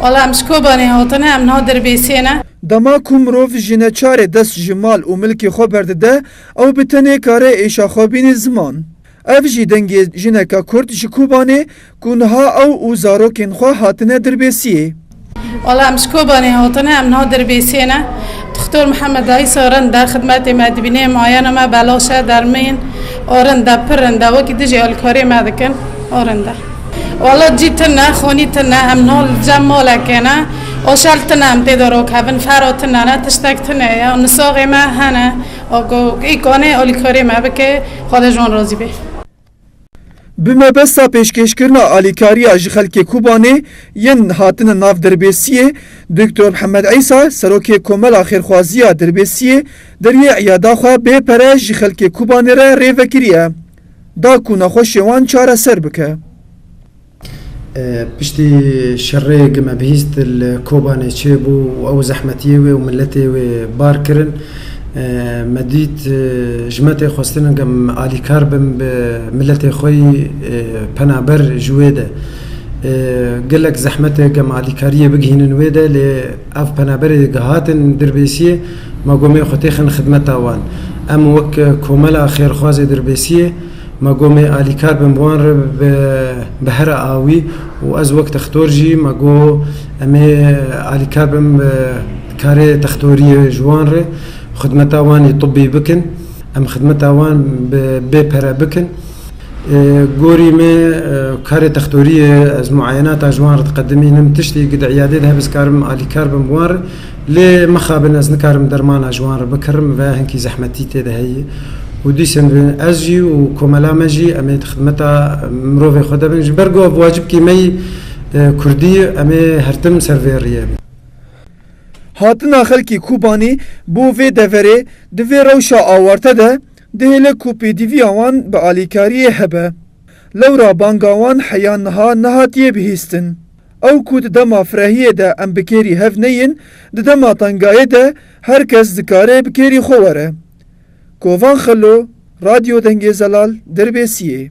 Wala em ji Kobanê hatine, em niha Dirbêsiyê ne. Dema ku mirov ji neçarê dest ji mal û milkê xwe berdide, ew bi tenê kare êşa xwe bînî ziman. Ev jî dengê jineke kurd ji Kobanê ku niha ew û zarokên xwe hatine Dirbêsiyê. Wala em ji Kobanê hatine, em niha Dirbêsiyê ne. Dixtor Mihemed Aîs a Rinde xidmetê me dibîne, mayena me belaş e, dermên a Rinde pir rind e, wekî dijî alîkariyê me dikin a Rinde. Wala cî tune, xonî tune, em no li cem malekê ne, oşel tune em tê de rok hebin, fera tune ne, tiştek tune ye û nisaxê me hene û ku îkanê alîkarî me bike, Xweda ji wan razî be. Bi mebesta pêşkêşkirina alîkariya ji xelkê Kobanê yên hatine nav Dirbêsiyê, Doktor Mihemed Îsa, Serokê Komela Xêrxwaziya Dirbêsiyê deriyê îyada xwe bê pere ji xelkê Kobanê re rê vekiriye. da ku nexweşiyê wan çareser bike. Piştî şerê gi me bihîst li Kobanê çêbû û ew zehmetiyê wê û miletê wê bar kirin. Me dît ji me tê xwestin em alîkar bin bi miletê xwe yî penaber ji wê de. Gelek zehmet e em alîkariyê bigihînin wê de lê. Ev penaberê gihatin Dirbêsiyê, ma got mê xwe têxin xidmeta wan. Em wek komela xêrxwazê Dirbêsiyê, ma got mê alîkar bin bi wan re bi bihera awî û ez wek textor jî ma got em ê alîkar bin bi karê textoriyê ji wan re xidmeta wan ê tibî bikin. Em xidmeta wan bi bê pere bikin. Gorî me karê textorî ye, ez muayenata ji wan re diqedimînim, tiştê ku di îyadê de hebe ez karim alîkar bim bi wan re. Lê mixabin ez nikarim dermana ji wan re bikirim, vaya hinkî zehmetî tê de heye. Û dîsên ve ez jî û komela me jî em ê di xidmeta mirovê xwe de bin. Ji ber ku ev wacibkî me yî, kurdî, em ê her tim ser vê riyê bin. Hatina xelkê Kobanî bo vê deverê di vê rewşa awarte de, Dihêle ku pêdivîya wan bi alîkariyê hebe. Lewra banga wan heya niha nehatiye bihîstin. Ew ku di dema firehiyê de em bi kêrî hev neyên, di dema tengayê de her kes dikare bi kêrî xwe were. Kovan Xelo, Radyo Dengê Zelal, Dirbêsiyê.